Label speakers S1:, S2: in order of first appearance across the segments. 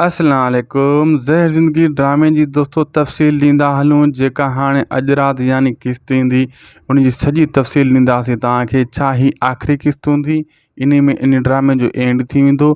S1: السلام عليڪم زهر زندگي ڊرامي جي دوستو تفصيل ڏيندا هلون جيڪا هاڻي اڄ رات يعني قسط ايندي ان جي سڄي تفصيل ڏينداسين توهان کي ڇا هي آخري قسط هوندي انهي ۾ ان ڊرامي جو اينڊ ٿي ويندو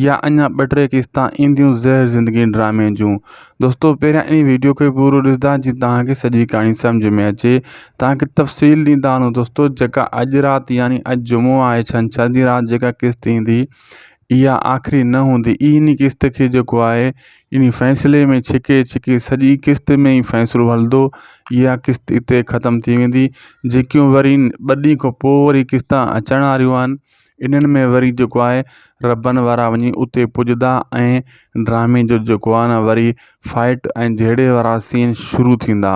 S1: يا اڃا ٻه ٽي قسطا اينديون زهر زندگي ڊرامي جون دوستو پهريان ان ويڊيو کي پورو ڏسندا جي توهان کي سڄي ڪهاڻي سمجھ ۾ اچي توهان کي تفصيل ڏيندا آهيون دوستو جيڪا اڄ رات يعني اڄ جمعو آهي ڇنڇر جي رات جيڪا قسط ايندي اها آخري نه هوندي اي ني قسط کي جيڪو آهي اني فيصلي ۾ ڇڪي ڇڪي سڄي قسط ۾ ئي فيصلو هلندو اها قسط اتي ختم ٿي ويندي جيڪيون وري ٻه ڏينهن کان پوء وري قسط اچڻ واريون آهن انهن ۾ وري جيڪو آهي ربن وارا وڃي اتي پڄدا ۽ ڊرامي جو جيڪو آهي نه وري فائٽ ۽ جهيڙي وارا سين شروع ٿيندا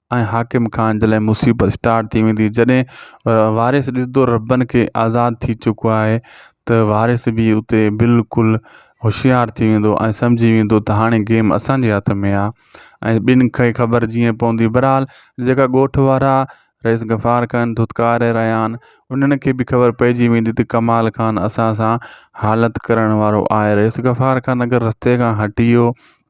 S1: ۽ حاڪم خان جي لاء مصيبت اسٽارٽ ٿي ويندي جڏهن وارث ڏسندو ربن کي آزاد ٿي چڪو آهي ته وارث به اتي بلڪل هوشيار ٿي ويندو ۽ سمجهي ويندو ته هاڻي گيم اسانجي هٿ ۾ آهي ۽ ٻين کي خبر جيئن پوندي برحال جيڪا ڳوٺ وارا رئيس غفار خان ڌتڪاري رهيا آهن انهن کي به خبر پئجي ويندي ته ڪمال خان اسان سان حالت ڪرڻ وارو آهي رئيس غفار خان اگر رستي کان هٽي ويو